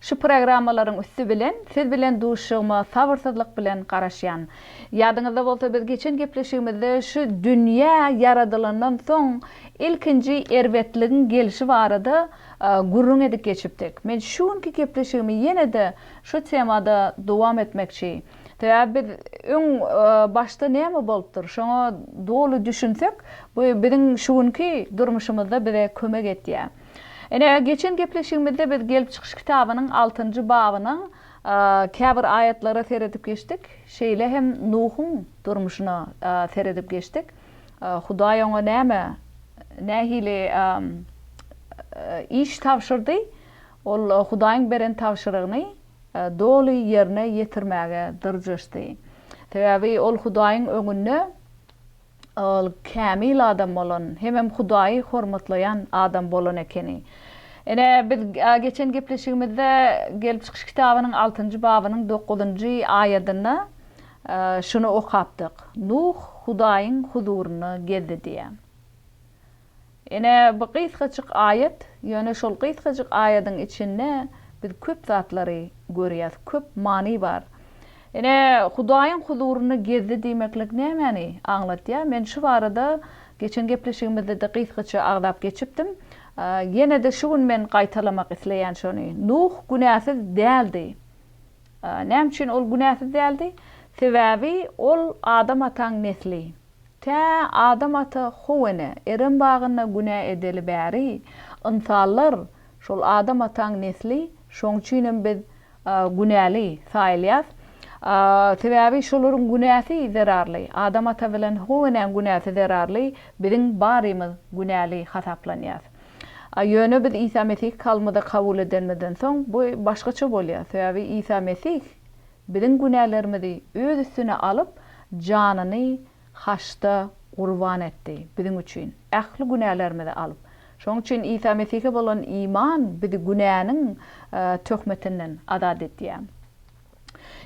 Şu programmalaryň üsti bilen siz bilen duşuşygyma sabyrsyzlyk bilen garaşýan. Ýadyňyzda bolsa biz geçen gepleşigimizde şu dünýä ýaradylandan soň ilkinji erbetligiň gelişi barada gürrüň edip geçipdik. Men şu günki gepleşigimi ýene-de şu temada dowam etmekçi. Sebäbi biz öň başda näme bolupdyr şoňa doly düşünsek bu biziň şu günki durmuşymyzda bize kömek etýär. Ine, geçen gepleşigimizde biz Gelip çykyş kitabynyň altynjy babynyň käbir aýatlara seredip geçdik, şeýle hem Nuhuň durmuşyna seredip geçdik. Hudaý oňa näme, nähili iş tabşyrdy? Ol Hudaýyň beren tabşyrygyny doly ýerine ýetirmäge dyrjaşdy. Sebäbi ol Hudaýyň öňünde Ol kämil adam bolan, hemem Hudaýy hormatlaýan adam bolan ekeni. Ine, biz geçen gepleşigimizde Gelip çykyş kitabynyň altynjy babynyň dokuzynjy aýadynda şuny okapdyk, Nuh Hudaýyň huzuryna geldi diýýär. Ine, bu gysgajyk aýat, ýöne şol gysgajyk aýadyň içinde biz köp zatlary görýäs, köp many bar. Ine, Hudaýyň huzuryny gezdi diýmeklik nämäni aňlatýar? Men şu barada geçen gepleşigimizde-de gysgaça agzap geçipdim. Ýene-de şu gün men gaýtalamak isleýän şony. Nuh günäsiz däldi. Näme üçin ol günäsiz däldi? Sebäbi ol Adam ataň nesli. Tä Adam ata how ene, Erem bagynda günä edeli bäri, ynsanlar, şol Adam ataň nesli, şoň üçinem biz günäli saýylýas. Sebäbi şolaryň günäsi zerarly, Adam ata bilen how enäň günäsi zerarly, biziň barymyz günäli hasaplanýas. Ýöne biz Isa Mesih Kalbymyza kabul edenimizden soň, bu başgaça bolýar. Sebäbi Isa Mesih Biziň günälerimizi Öz üstüne alyp, janyny haçda gurban etdi, biziň üçin, ähli günälerimizi alyp. Şonuň üçin Isa Mesihe bolan iman bizi günäniň töhmetinden azat edýär.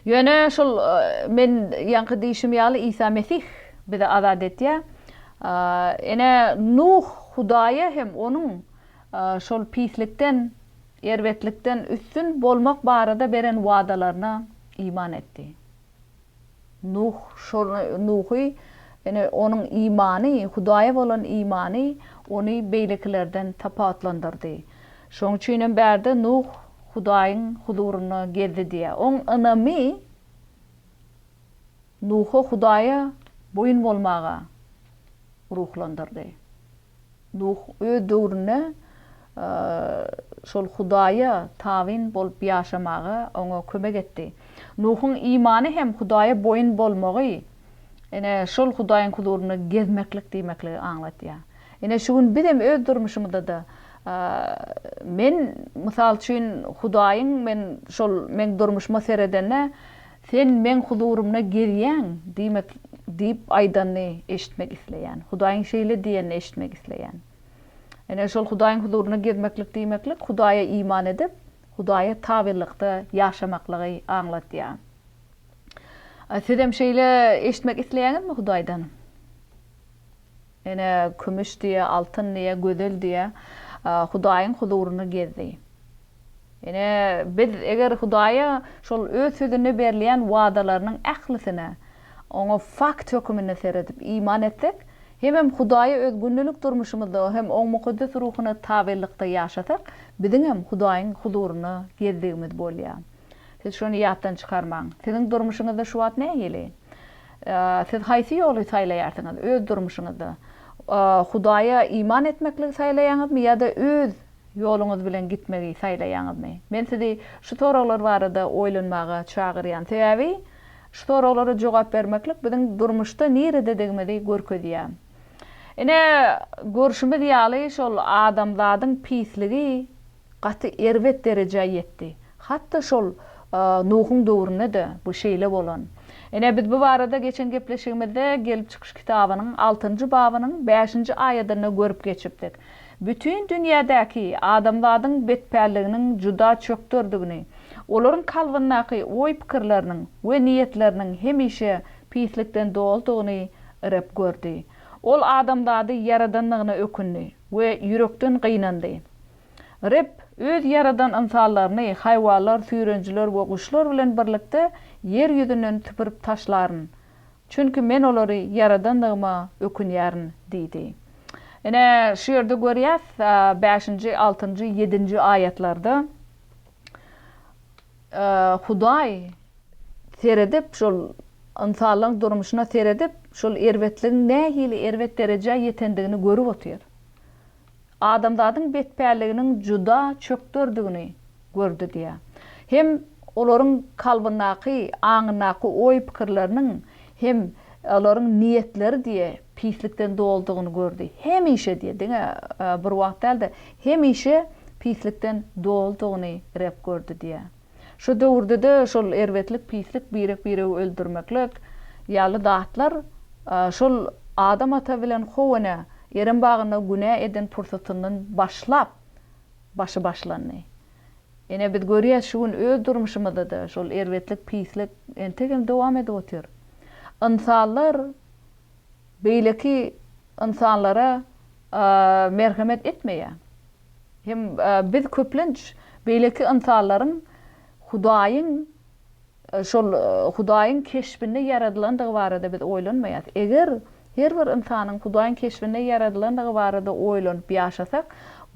Ýöne şol men ýaňky diýşim ýaly Isa Mesih bizi azat edýär. Ene Nuh Hudaýa hem onuň şol pislikden Erbetlikden üstün bolmak barada beren wadalaryna iman etdi. Nuh şol Nuhy, ýene onuň imany, Hudaýa bolan imany ony beýlekilerden tapawutlandyrdy. Şonuň üçin hem bärde Nuh Hudaýyň huzurynda gezdi diýýär. Oň ynamy Nuhy Hudaýa boýun bolmaga ruhlandyrdy. Nuh öz döwründe şol Hudaýa tabyn bolup ýaşamaga oňa kömek etdi. Nuhuň imany hem Hudaýa boýun bolmagy, ine, şol Hudaýyň huzurynda gezmeklik diýmekligi aňladýar. Ine, şu gün bizem öz durmuşymyzda-da, men, mysal üçin, Hudaýyň men şol meň durmuşyma seredende, Sen Meň huzurymda gezýäň, diýmek, diýip aýdanyny eşitmek isleýän. Hudaýyň şeýle diýenini eşitmek isleýän. Ine, şol Hudaýyň huzurynda gezmeklik diýmeklik Hudaýa iman edip, Hudaýa tabylykda ýaşamaklygy aňladýar. Siz hem şeýle eşitmek isleýäňizmi Hudaýdan? Ene, kümüş diýe, altyn diýe, gözel diýe, Hudaýyň huzurynda gezdi. Ine, biz eger Hudaýa şol Öz Sözünde berilýän wadalarynyň ählisine, Oňa fakt höküminde seredip, iman etsek, hemem Hudaýa öz gündelik durmuşymyzda hem Oň mukaddes ruhuna tabynlykda ýaşasak, biziňem Hudaýyň huzuryna gezdigimiz bolýar. Siz şony ýatdan çykarmaň. Siziň durmuşyňyzda şu wagt nähili? Siz haýsy ýoly saýlaýarsyňyz öz durmuşyňyzda? Hudaýa iman etmekligi saýlaýaňyzmy ýa-da öz Ýoluňyz bilen gitmegi saýlaýaňyzmy? Men sizi şu soraglar barada oýlanmaga çagyrýan. Sebäbi şu soraglara jogap bermeklik biziň durmuşda nirededigimizi görkezýär. Ine, görşümiz ýaly şol adamzadyň pisligi gaty erbet derejä ýetdi. Hatda şol Nuhuň döwründe-de bu şeýle bolan. Ine, biz bu barada geçen gepleşigimizde Gelip çykyş kitabynyň altynjy babynyň bäşinji aýadynda görüp geçipdik. bütin dünýädäki adamzadyň betpälliginiň juda çökderdigini, olaryň kalbyndaky oý-pikirleriniň we niýetleriniň hemişe pislikden doludygyny Reb gördi. Ol adamzady ýaradandygyna ökündi we ýürekden gynandy. Reb Öz ýaradan ynsanlaryny haýwanlar, süýrenijiler we guşlar bilen birlikde ýer ýüzünden süpürip taşlaryn Çünki men olary ýaradandygyma ökünýärin diýdi. Ine, şu ýerde görýäs, bäşinji, altynjy, ýedinji aýatlarda Hudaý seredip, şol ynsanlaryň durmuşyna seredip, şol erbetligiň nähili erbet derejä ýetendigini görüp otyr. adamzadyň betpälliginiň juda çökderdigini gördi diýýär. Hem olaryň kalbyndaky, aňyndaky oý-pikirleriniň hem olaryň niýetleri diýýär, pislikden doldugyny gördi. Hemişe diýýär, diňe bir wagt däl-de, hemişe pislikden doldugyny Reb gördi diýýär. Şu döwürdede şol erbetlik pislik birek biregi öldürmeklik yaly zatlar şol Adam ata bilen Howene Erem bagynda günä eden pursatyndan başlap başy başlandy. Ine biz görýäs şu gün öz durmuşymyzdada şol erbetlik pislik entegem dowam edip otyr. Ynsanlar beýleki ynsanlara merhemet etmeýär. Hem biz köplenç beýleki ynsanlaryň Hudaýyň şol Hudaýyň keşbinde ýaradylandygy barada biz oýlanmaýarys. Eger her bir ynsanyň Hudaýyň keşbinde ýaradylandygy barada oýlanyp ýaşasak,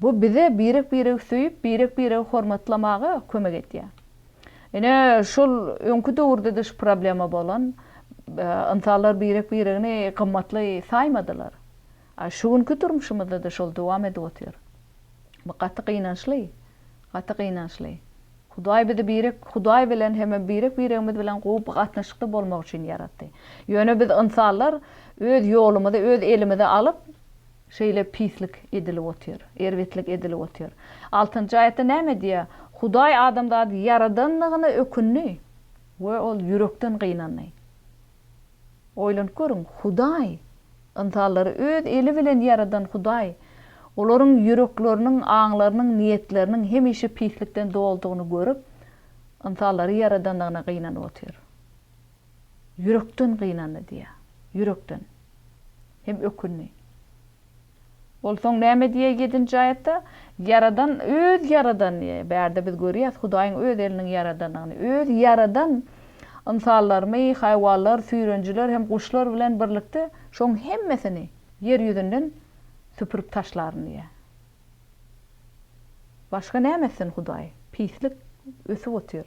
bu bize birek-biregi söýüp, birek-biregi hormatlamaga kömek edýär. Ine, şol öňki döwürde-de şu problema bolan, ynsanlar birek-biregini gymmatly saýmadylar. A şu günki durmuşymyzda-da şol dowam edip otyr. Bu gaty gynançly, gaty gynançly. Hudaý bizi birek Hudaý bilen hem-ä birek-biregimiz bilen gowy by gatnaşykda bolmak üçin ýaratdy. Ýöne biz ynsanlar öz ýolumyzy öz elimize alyp, şeýle pislik edilip otyr, erbetlik edilip otyr. Altynjy aýatda näme diýýär? Hudaý adamzady ýaradanlygyna ökündi we ol ýürekden gynandy. Oýlanyp görüň, Hudaý, ynsanlary Öz eli bilen ýaradan Hudaý, olaryň ýürekleriniň, aňlarynyň, niýetleriniň hemişe pislikden doludygyny görüp, ynsanlary ýaradandygyna gynanyp otyr. Ýürekden gynandy diýýär. Ýürekden. Hem ökündi. Ol soň näme diýýär ýedinji aýatda? Ýaradan Öz ýaradan diýýär. Bärde biz görýäs Hudaýyň Öz eliniň ýaradanyny. Öz ýaradan ynsanlarymy, haýwanlar, süýrenijiler hem guşlar bilen birlikde şoň hemmesini ýer ýüzünden süpürip taşlaryn diýýär. Başga näme etsin Hudaý? Pislik ösüp otyr.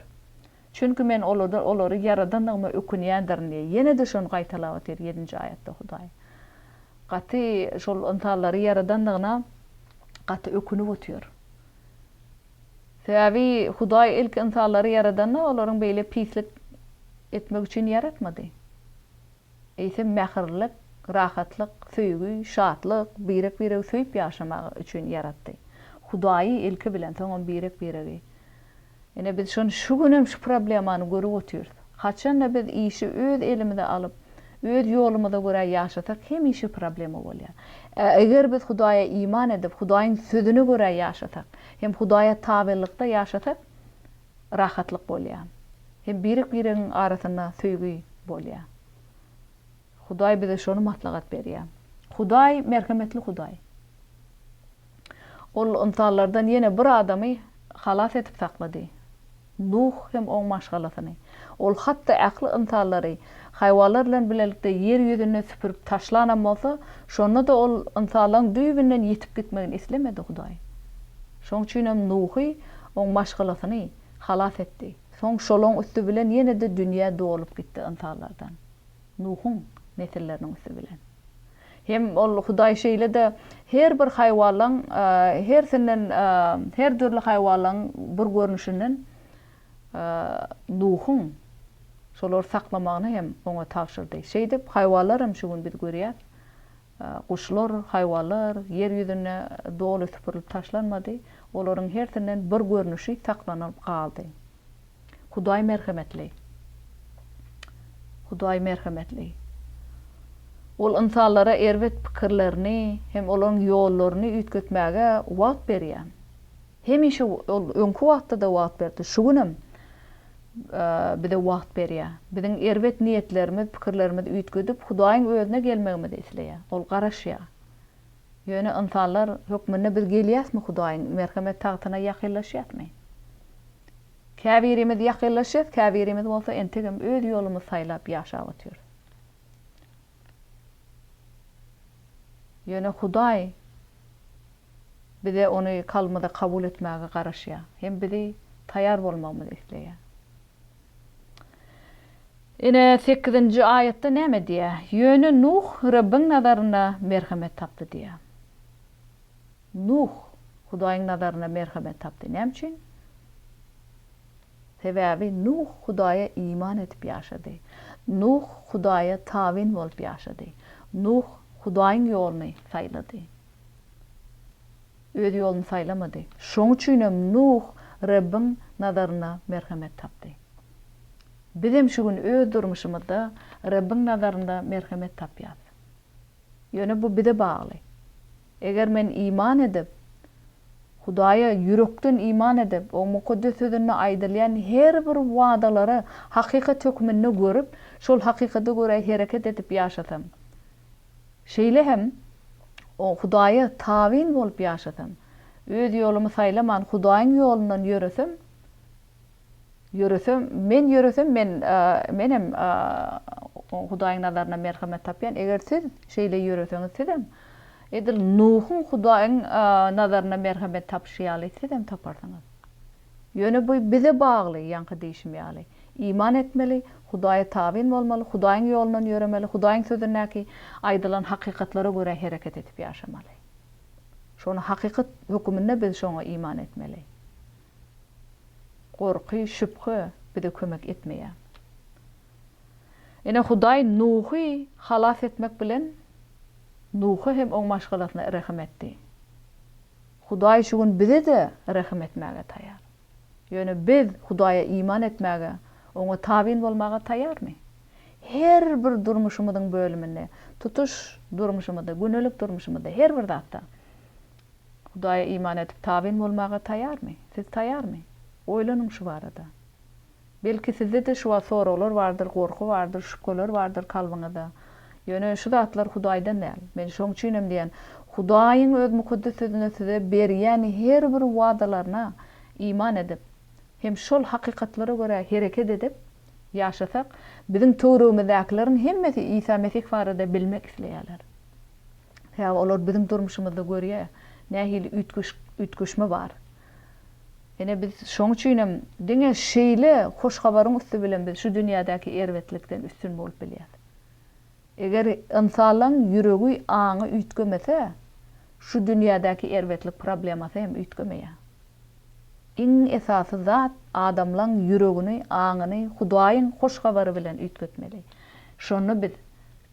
Çünki men olardan olary ýaradandygyma ökünýändirin diýýär. Ýene-de şony gaýtalap otyr ýedinji aýatda Hudaý. Gaty şol ynsanlary ýaradandygyna gaty ökünip otyr. Sebäbi Hudaý ilki ynsanlary ýaradanda olaryň beýle pislik etmek üçin ýaratmady. Eýsem mähirlilik, rahatlyk, söýgi, şatlyk, birek-biregi söýüp ýaşamak üçin ýaratdy. Hudaýy ilki bilen soňam birek-biregi. Ine biz şony şu günem şu problemany görüp otyrys. Haçanda biz işi öz elimize alyp, öz ýolumyza görä ýaşasak hemişe problema bolýar. Ä eger biz Hudaýa iman edip, Hudaýyň sözüne görä ýaşasak, hem Hudaýa tabelykda ýaşasak rahatlyk bolýar. Hem birek-biregiň arasynda söýgi bolýar. Hudaý bize şony maslahat berýär. Hudaý merhemetli Hudaý. Ol ynsanlardan ýene bir adamy halas edip saklady. Nuh hem oň maşgalasyny. Ol hatda ähli ynsanlary, haýwanlar bilen bilelikde ýer ýüzünden süpürip taşlanam bolsa, şonda-da ol ynsanlaryň düýbünden ýitip gitmegini islemedi Hudaý. Şoň üçinem Nuhy, oň maşgalasyny halas etdi. Soň şolaň üsti bilen ýene-de dünýä dolup gitdi ynsanlardan. Nuhuň nesilleriniň üsti bilen. Hem ol Hudaý şeýle-de her bir haýwanlaň hersinden, her dürli haýwanlaň bir görnüşinden Nuhuň şolary saklamagyny hem oňa tabşyrdy. Şeýdip, haýwanlar hem şu gün biz görýäs, guşlar, haýwanlar ýer ýüzünde doly süpürilip taşlanmady, olaryň hersinden bir görnüşi saklanylyp galdy. Hudaý merhemetli. Hudaý merhemetli. Ol ynsanlara erbet pikirlerini hem olaryň ýollaryny üýtgetmäge wagt berýär. Hemişe Ol öňki wagtda-da wagt berdi, şu günem bize wagt berýär. Biziň erbet niýetlerimiz, pikirlerimiz üýtgedip, Hudaýyň Özüne gelmegimizi isleýär. Ol garaşýar. Ýöne ynsanlar hökmünde biz gelýäsmi Hudaýyň merhemet tagtyna ýakynlaşýasmy? Käbirimiz ýakynlaşýas, käbirimiz bolsa entegem öz ýolumyz saýlap ýaşap otyrys. Ýöne Hudaý bize ony kalbymyza kabul etmäge garaşýar hem bizi taýar bolmagymyzy isleýär. Ine, sekizinji aýatda näme diýýär? Ýöne Nuh Rebbiň nazarynda merhemet tapdy diýýär. Nuh Hudaýyň nazarynda merhemet tapdy. Näme üçin? Sebäbi Nuh Hudaýa iman edip ýaşady. Nuh Hudaýa tabyn bolup ýaşady. Nuh Hudaýyň ýoluny saýlady. Öz ýoluny saýlamady. Şoň üçin hem Nuh Rebbiň nazarynda merhemet tapdy. Biz hem şu gün öz durmuşymyzda Rebbiň nazarynda merhemet tapýarys. Ýöne bu bize bagly. Eger men iman edip, Hudaýa ýürekden iman edip, Oň Mukaddes Sözünde aýdylýan her bir wadalary hakykat hökmünde görüp, şol hakykata görä hereket edip ýaşasam, Şeýle hem, o, Hudaýa tabyn bolup ýaşasam, öz ýolumy saýlaman, Hudaýyň ýolundan ýöresem, ýöresem, men ýöresem, men, menem Hudaýyň nazarynda merhemet tapýan, eger siz şeýle ýöreseňiz, sizem, edil Nuhuň Hudaýyň nazarynda merhemet tapyşy ýaly, sizem taparsyňyz. Ýöne bu bize bagly, ýaňky diýşim ýaly. Iman etmeli, Hudaýa tabyn bolmaly, Hudaýyň ýolundan ýöremeli, Hudaýyň Sözündäki aýdylan hakykatlara görä hereket edip ýaşamaly. Şony hakykat höküminde biz şoňa iman etmeli. Gorky, şübhe bize kömek etmeýär. Ine, Hudaý Nuhy halas etmek bilen, Nuha hem oň maşgalasyna rehim etdi. Hudaý şu gün bize-de rehim etmäge taýar. Ýöne biz Hudaýa iman etmäge, Oňa tabyn bolmaga taýarmy? Her bir durmuşymyzyň bölüminde, tutuş durmuşymyzda, gündelik durmuşymyzda, her bir zatda Hudaýa iman edip, tabyn bolmaga taýarmy? Siz taýarmy? Oýlanyň şu barada. Belki sizde-de şu wagt soraglar bardyr, gorky bardyr, şübheler bardyr kalbyňyzda. Ýöne şu zatlar Hudaýdan däl. Men şoň üçinem diýýän, Hudaýyň Öz Mukaddes Sözüne size berýän her bir wadalaryna iman edip, hem şol hakykatlara görä hereket edip ýaşasak, biziň töweregimizdäkileriň hemmesi Isa Mesih barada bilmek isleýärler. Sebäbi olar biziň durmuşymyzda görýär, nähili üýtgeşme bar. Ine, biz şoň üçinem diňe şeýle hoş habaryň üsti bilen biz şu dünýädäki erbetlikden üstün bolup bilýäs. Eger ynsanlaň ýüregi, aňy üýtgemese, şu dünýädäki erbetlik problemasy hem üýtgemeýär. Iň esasy zat adamlaň ýüregini, aňyny Hudaýyň hoş habary bilen üýtgetmeli. Şonda biz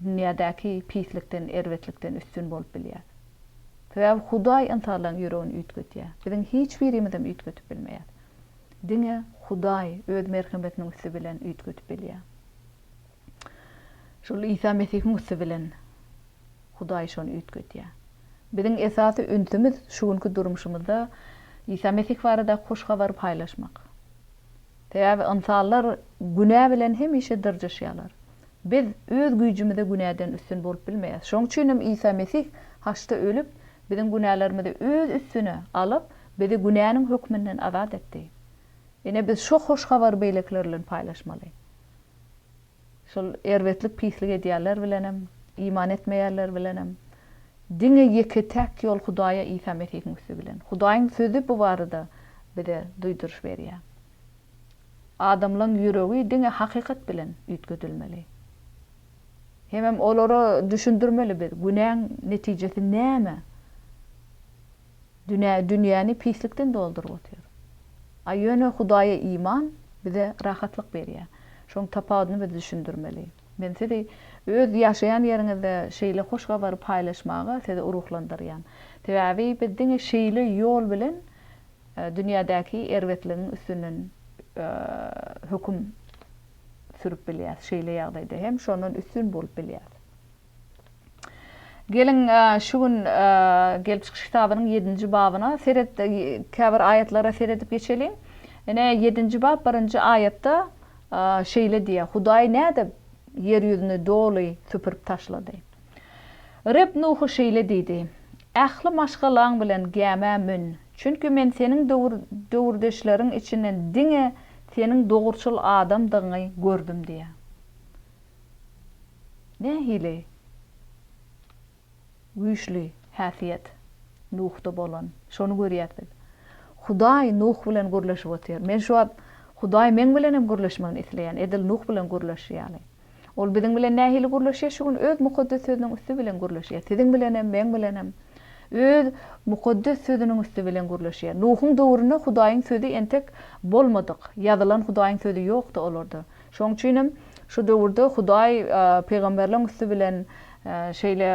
dünýädäki pislikden, erbetlikden üstün bolup bilýäs. Sebäbi Hudaý ynsanlaryň ýüregini üýtgedýär. Biziň hiç birimizem üýtgedip bilmeýäs. Diňe Hudaý öz merhemetiniň üsti bilen üýtgedip bilýär. Şol Isa Mesihiň üsti bilen Hudaý şony üýtgedýär. Biziň esasy ünsümiz şu günki durmuşymyzda Isa Mesih baradaky hoş habary paýlaşmak. Sebäbi ynsanlar günä bilen hemişe dyrjaşýarlar. Biz öz güýjümize günäden üstün bolup bilmeýäs. Şoň üçin hem Isa Mesih haçda ölüp, biziň günälerimizi öz üstüne alyp, bizi günäniň hökmünden azat etdi. Ine, biz şo hoş habary beýlekiler bilen paýlaşmaly. Şol erbetlik, pislik edýänler bilenem, iman etmeýänler bilenem. Diňe ýeke-täk ýol Hudaýa Isa Mesihiň üsti bilen. Hudaýyň Sözi bu barada bize duýduryş berýär. Adamlaň ýüregi diňe hakykat bilen üýtgedilmeli. Hemem olara düşündirmeli biz, günäň netijesi näme? Dünä dünýäni pislikden dolduryp otyr. A ýöne Hudaýa iman bize rahatlyk berýär. Şoň tapawudyny biz düşündirmeli. Men sizi öz ýaşaýan ýeriňizde şeýle hoş habary paýlaşmaga sizi ruhlandyrýan. Sebäbi biz diňe şeýle ýol bilen Dünýädäki erbetligiň üstünden höküm sürüp bilýäs. Şeýle ýagdaýda hem şondan üstün bolup bilýäs. Geliň, şu gün Gelip çykyş kitabynyň ýedinji babyna seret, käbir aýatlara seredip geçeliň. Ine, ýedinji bap, birinji aýatda şeýle diýýär, Hudaý nädip ýer ýüzüni doly süpürip taşlady? Reb Nuha şeýle diýdi, Ähli maşgalaň bilen gämä mün, çünki Men seniň döwür-döwürdeşleriň içinden diňe seniň dogruçyl adamdygyňy gördüm diýýär. Nähili güýçli häsiýet Nuhda bolan! Şony görýäs biz. Hudaý Nuh bilen gürleşip otyr. Men şu wagt Hudaý meň bilen hem gürleşmegini isleýän, edil Nuh bilen gürleşi ýaly. Ol biziň bilen nähili gürleşýär? Şu gün Öz Mukaddes Sözüniň üsti bilen gürleşýär. Siziň bilenem, meň bilenem Öz Mukaddes Sözüniň üsti bilen gürleşýär. Nuhuň döwründe Hudaýyň Sözi entek bolmadyk, ýazylan Hudaýyň Sözi ýokdy olarda. Şoň üçinem şu döwürde Hudaý pygamberleň üsti bilen şeýle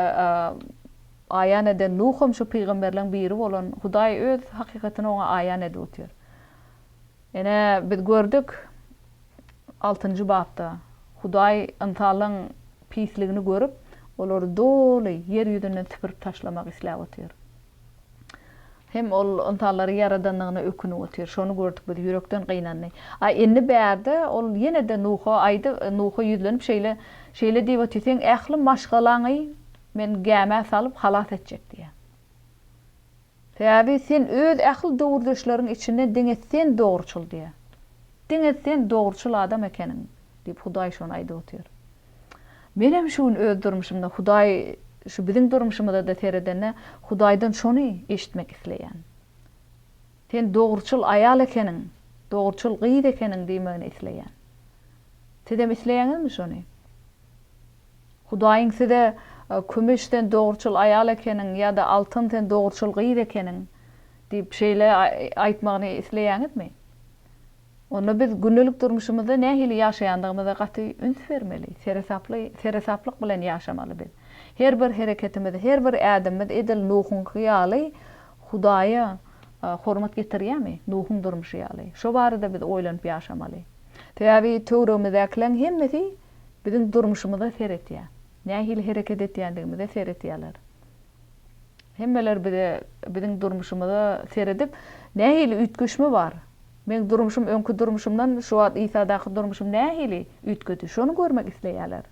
aýan eden, Nuham şu pygamberleň biri bolan, Hudaý Öz hakykatyny oňa aýan edip otyr. Ine, biz gördük, altynjy bapda, Hudaý ynsanlaryň pisligini görüp, olary doly ýer ýüzünden süpürip taşlamak isläp otyr. Hem ol ynsanlary ýaradandygyna ökünip otyr. Şony gördük biz, ýürekden gynandy. A indi bärde ol ýene-de Nuha aýdyp, Nuha ýüzlenip şeýle, şeýle diýip otyr, Seň ähli maşgalaňy Men gämä salyp, halas etjek diýýär. Säbabi sen öz ähli döwürdeşleriň içinde diňe sen dogruçyl diýýä. Diňe sen dogruçyl adam ekeniň diýip Hudaý şony aýdyp otyr. Menem şu gün öz durmuşymda Hudaý şu biziň durmuşymyzada seredende Hudaýdan şony eşitmek isleýän. Sen dogruçyl aýal ekeniň, dogruçyl gyz ekeniň diýmegini isleýän. Sizem isleýäňizmi şony? Hudaýyň size, Kümüş sen dogruçyl aýal ekeniň ýa-da Altyn sen dogruçyl gyz ekeniň diýip şeýle aýtmagyny isleýäňizmi? Onda biz gündelik durmuşymyzda nähili ýaşaýandygymyza gaty üns bermeli. Seresaply, seresaplyk bilen ýaşamaly biz. Her bir hereketimiz, her bir ädimimiz edil Nuhuňky ýaly Hudaýa hormat getirýärmi? Nuhuň durmuşy ýaly. Şo barada biz oýlanyp ýaşamaly. Sebäbi töweregimizdäkileriň hemmesi biziň durmuşymyza seretýär. Nähili hereket etýändigimize seretýärler. Hemmeler bize, biziň durmuşymyza seredip, nähili üýtgeşme bar? Meň durmuşym öňki durmuşymdan şu wagt Isadaky durmuşym nähili üýtgedi? Şony görmek isleýärler.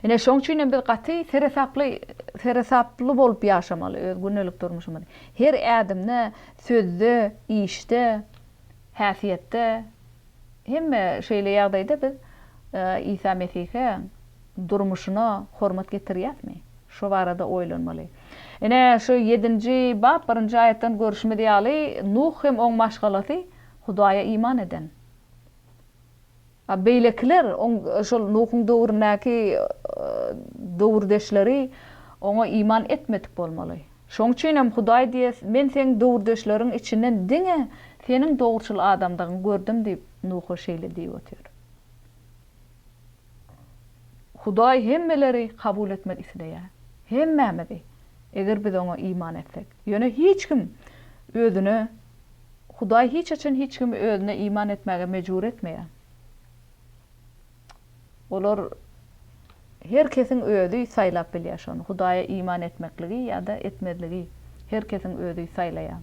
Ine, şoň üçin hem biz gaty seresaply, seresaply bolup ýaşamaly öz gündelik durmuşymyzy. Her ädimde, sözde, işde. Häsiýetde hemme şeýle ýagdaýda biz Isa Mesihe durmuşyna hormat getirýäsmi? Şo barada oýlanmaly. Ine, şu ýedinji bap birinji aýatdan görüşimiz ýaly, Nuh hem oň maşgalasy Hudaýa iman eden. A beýlekiler, oň, şol Nuhuň döwründäki döwürdeşleri oňa iman etmedik bolmaly. Şoň üçinem Hudaý diýýär, Men seň döwürdeşleriň içinden diňe seniň dogruçyl adamdygyňy gördüm diýip, Nuha şeýle diýip otyr. Hudaý hemmeleri kabul etmek isleýär. Hemmämizi, eger biz oňa iman etsek. Ýöne hiç kim özüne Hudaý hiç haçan hiç kimi özüne iman etmäge mejbur etmeýär. Olar her kesiň özi saýlap bilýär şony. Hudaýa iman etmekligi ýa-da etmezligi her kesiň özi saýlaýar.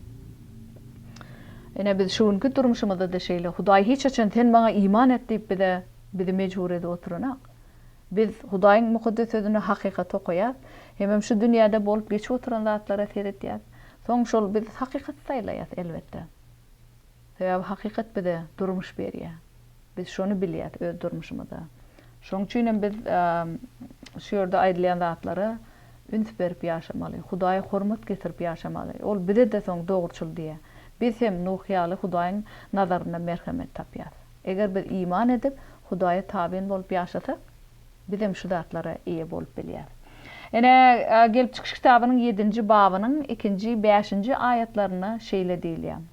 Ine biz şu günki durmuşymyzda-da şeýle. Hudaý hiç haçan sen maňa iman et diýip bize bizi mejbur edip oturanok. Biz Hudaýyň Mukaddes Sözünde hakykaty okaýas. Hemem şu dünýäde bolup geçip oturan zatlara seretýäs. Soň şol biz hakykaty saýlaýas elbetde. Sebäbi hakykat bize durmuş berýär. Biz şony bilýäs öz durmuşymyzda. Şoň üçin hem biz şu ýerde aýdylýan zatlara üns berip ýaşamaly, Hudaýa hormat getirip ýaşamaly. Ol bize-de soň dogruçyl diýýär. Biz hem Nuh ýaly Hudaýyň nazarynda merhemet tapýas. Eger biz iman edip, Hudaýa tabyn bolup ýaşasak, Bizem şu zatlara eýe bolup bilýäris. Ine, Gelip çykyş kitabynyň ýedinji babynyň ikinji, bäşinji aýatlarynda şeýle diýilýär,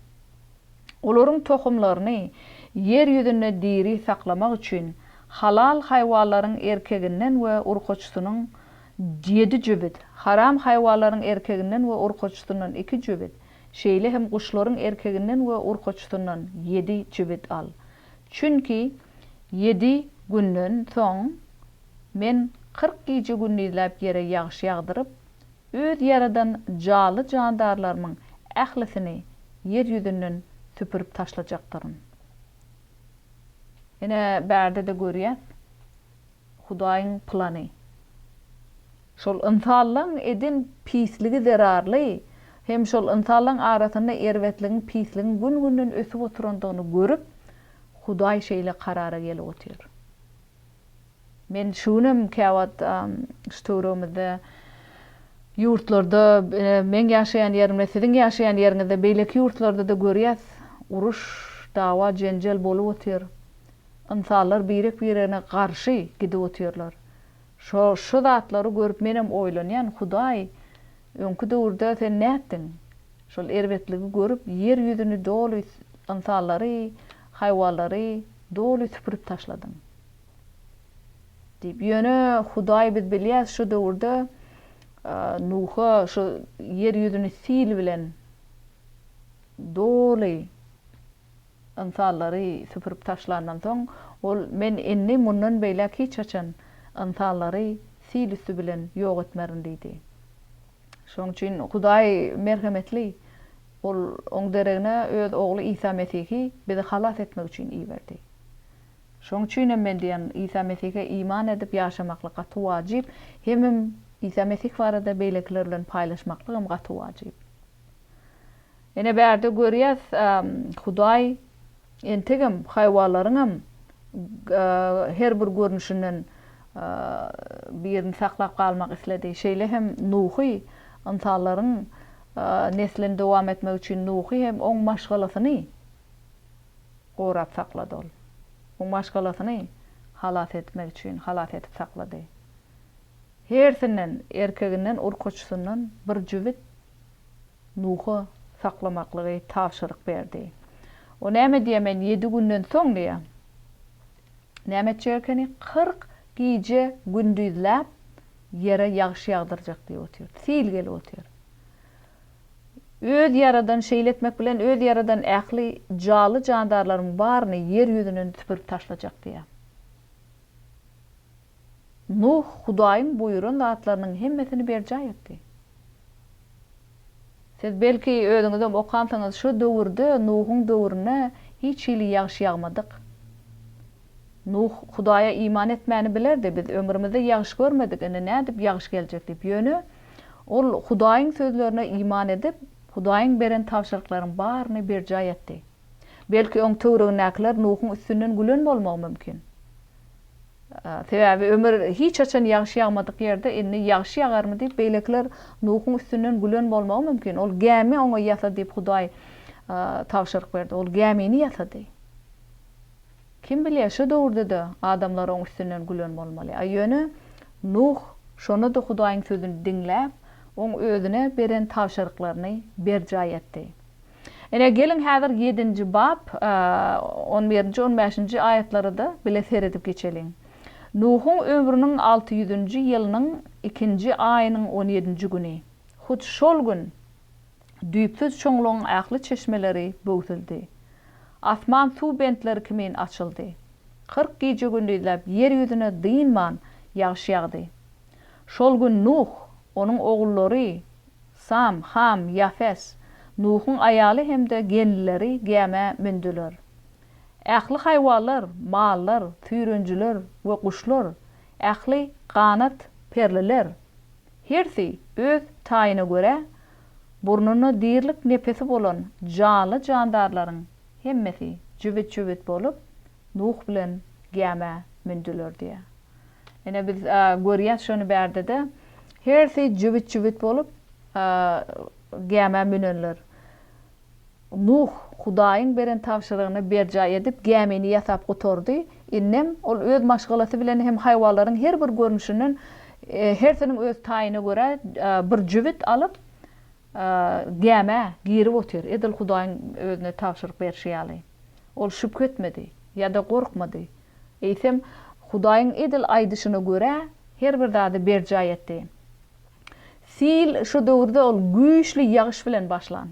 Olaryň tohumlaryny ýer ýüzünde diri saklamak üçin halal haýwanlaryň erkeginden we urkaçysynyň ýedi jübüt, haram haýwanlaryň erkeginden we urkaçysyndan iki jübüt, şeýle hem guşlaryň erkeginden we urkaçysyndan ýedi jübüt al. Çünki ýedi günden soň Men kyrk gije-gündizläp ýere ýagyş ýagdyryp, Öz ýaradan janly-jandarlarymyň ählisini ýer ýüzünden süpürip taşlajakdyryn. Ine, bärde-de görýäs. Hudaýyň plany. Şol ynsanlaň eden pisligi zerarly hem şol ynsanlaň arasynda erbetligiň pisligiň gün günden ösüp oturandygyny görüp Hudaý şeýle karara gelip otyr. Men şu günem käwagt şu töwregimizde ýurtlarda meň ýaşaýan ýerimde siziň ýaşaýan ýeriňizde beýleki ýurtlarda-da görýäs uruş dawa jenjel bolup otyr Ynsanlar birek-biregine garşy gidip otyrlar. Şo, şu zatlary görüp menem oýlanýan, Hudaý, öňki döwürde Sen nätdiň? Şol erbetligi görüp, ýer ýüzüni doly, ynsanlary, haýwanlary doly süpürip taşladyň. Diýip, ýöne Hudaý biz bilýäs, şu döwürde Nuha şu ýer ýüzüni sil bilen doly Ynsanlary süpürip taşlandan soň, ol, Men indi mundan beýläk hiç haçan ynsanlary sil üsti bilen ýok etmerin diýdi. Şonuň üçin Hudaý merhemetli. Ol Oň deregine Öz Ogly Isa Mesihi bizi halas etmek üçin iberdi. Şonuň üçin hem men diýýän, Isa Mesihe iman edip ýaşamaklyk gaty wajyp, hemem Isa Mesih barada beýlekiler bilen paýlaşmaklygam gaty wajyp. Ine bärde görýäs, Hudaý entegem haýwanlaryňam her bir görnüşinden birini saklap galmak isledi. Şeýle hem Nuhy, ynsanlaryň neslini dowam etmegi üçin Nuhy hem oň maşgalasyny gorap saklady ol. Oň maşgalasyny halas etmek üçin halas edip saklady. Hersinden, erkeginden, urkaçysyndan bir jübüt. Nuha saklamaklygy tabşyryk berdi. O näme diýýär, men ýedi günden soň diýýär. Näme etjek ekeni? Kyrk gije gündizläp ýere ýagyş ýagdyrjak diýip otyr. Sil gelip otyr. Öz ýaradan, şeýle etmek bilen öz ýaradan ähli janly-jandarlaryň baryny ýer ýüzünden süpürip taşlajak diýýär. Nuh Hudaýyň buýran zatlarynyň hemmesini berjaý etdi. Siz belki özüňizem okansyňyz şu döwürde Nuhuň döwrüne hiç hili ýagyş ýagmadyk. Nuh Hudaýa iman etmäni bilerdi, biz ömrümizde ýagyş görmedik, indi nädip ýagyş geljek diýip, ýöne ol Hudaýyň sözlerine iman edip, Hudaýyň beren tabşyryklaryň baryny berjaý etdi. Belki oň töwregindäkiler Nuhuň üstünden gülen bolmagy mümkin. Sebäbi ömür hiç haçan ýagşy ýagmadyk ýerde indi ýagşy ýagarmy diýip beýlekiler Nuhuň üstünden gülen bolmagy mümkin. Ol gämi oňa ýasa diýip Hudaý tabşyryk berdi. Ol gämini ýasady. Kim bilýär şo döwürdede adamlar oň üstünden gülen bolmaly. A ýöne Nuh şonda-da Hudaýyň sözüni diňläp, oň özüne beren tabşyryklaryny berjaý etdi. Ine, geliň häzir ýedinji bap, on birinji, on bäşinji aýatlara-da bile seredip geçeliň. Nuhuň ömrüniň alty ýüzünji ýylynyň ikinji aýynyň on ýedinji güni, hut şol gün düýpsüz çuňlugyň ähli çeşmeleri böwsüldi. Asman suw bentleri kimin açyldy. Kyrk gije-gündizläp ýer ýüzüne dynman ýagyş ýagdy. Şol gün Nuh, onuň ogullary, Sam, Ham, Ýafes, Nuhuň aýaly hem-de gelnileri gämä mündüler. Ähli haýwalar, mallar, süýrenjiler we guşlar, ähli ganat perliler, hersi öz taýyna görä, burnunda dirilik nepesi bolan janly-jandarlaryň hemmesi jübüt-jübüt bolup, Nuh bilen gämä mündüler diýýär. Ine biz görýäs şony bärdede hersi jübüt jübüt bolup gämä münenler. Nuh Hudaýyň beren tabşyrygyny berjaý edip gämini ýasap gutardy, indem ol öz maşgalasy bilen hem haýwalaryň her bir görnüşinden hersiniň öz taýyna görä bir jübüt alyp gämä girip otyr edil Hudaýyň özüne tabşyryk berşi ýaly. Ol şübhe etmedi ýada gorkmady. Eýsem, Hudaýyň edil aýdyşyna görä, her bir zady berjaý etdi. Sil şu döwürde ol güýçli ýagyş bilen başlan.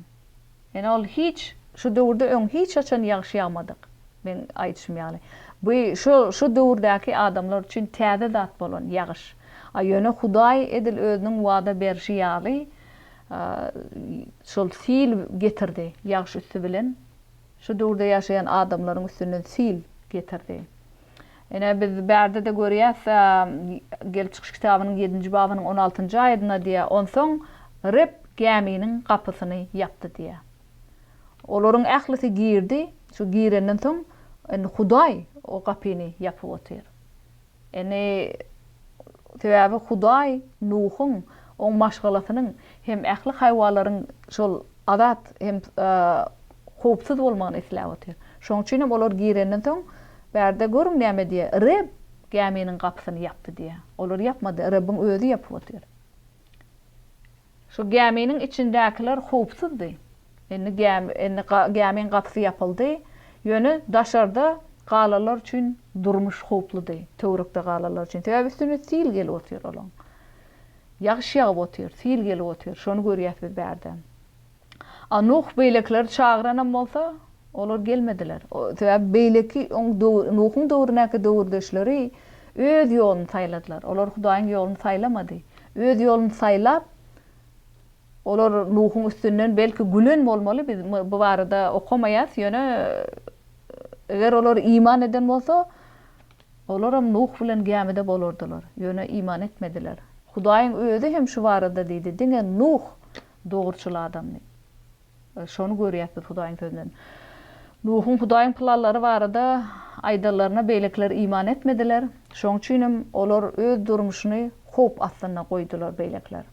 Ýöne ol hiç şu döwürde öň hiç haçan ýagyş ýagmadyk. Meň aýdyşym ýaly, bu şu şu döwürdäki adamlar üçin täze zat bolan ýagyş. A ýöne Hudaý edil özüniň wada berşi ýaly şol sil getirdi, ýagyş üsti bilen Şu döwürde ýaşaýan adamlaryň üstünden sil getirdi. Ine, biz bärde-de görýäs, Gelip çykyş kitabynyň ýedinji babynyň on altynjy aýadynda diýýär, Onsoň Reb gäminiň gapysyny ýapdy diýýär. Olaryň ählisi girdi, şu girenden soň, indi Hudaý o gapyny ýapyp otyr. Ine, sebäbi Hudaý Nuhuň, oň maşgalasynyň hem ähli haýwanlaryň şol azat hem howpsuz bolmagyny isläp otyr. Şonuň üçin hem olar girenden soň, bärde görüň näme diýýär, Reb gäminiň gapysyny ýapdy diýýär. Olar ýapmady, Rebbiň Özi ýapyp otyr. Şu gäminiň içindäkiler howpsuzdy. Indi gämi, indi gämiň gapysy ýapyldy. Ýöne daşarda galanlar üçin durmuş howpludy, töwerekde galanlar üçin. Sebäbi üstüne sil gelip otyr olaň. Ýagyş ýagyp otyr, sil gelip otyr. Şony görýäs biz bärden. A Nuh beýlekileri çagyranam bolsa, olar gelmediler. Sebäbi beýleki oň döwür, Nuhuň döwründäki döwürdeşleri öz ýoluny saýladylar. Olar Hudaýyň ýoluny saýlamady. Öz ýoluny saýlap, olar Nuhuň üstünden belki gülen bolmaly, biz bu barada okamaýas, ýöne eger olar iman eden bolsa, olaram Nuh bilen gämide bolardylar. Ýöne iman etmediler. Hudaýyň özi hem şu barada diýdi, Diňe Nuh dogruçyl adamdy. Şony görýäs biz Hudaýyň Sözünden. Nuhuň Hudaýyň planlary barada aýdanlaryna beýlekiler iman etmediler, şoň üçin hem olar öz durmuşyny howp astynda goýdular. Beýlekiler,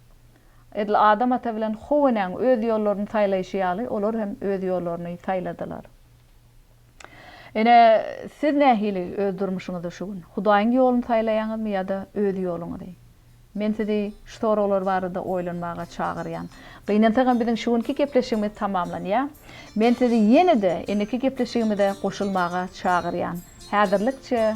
edil Adam ata bilen How enäň öz ýollaryny saýlaýşy ýaly, olar hem öz ýollaryny saýladylar. Ine, siz nähili öz durmuşyňyzda şu gün? Hudaýyň ýoluny saýlaýaňyzmy ýa-da öz ýoluňyzy? Men sizi şu soraglar barada oýlanmaga çagyrýan. Gynansagam biziň şu günki gepleşigimiz tamamlanýar. Men sizi ýene-de indiki gepleşigimize goşulmaga çagyrýan. Häzirlikçe.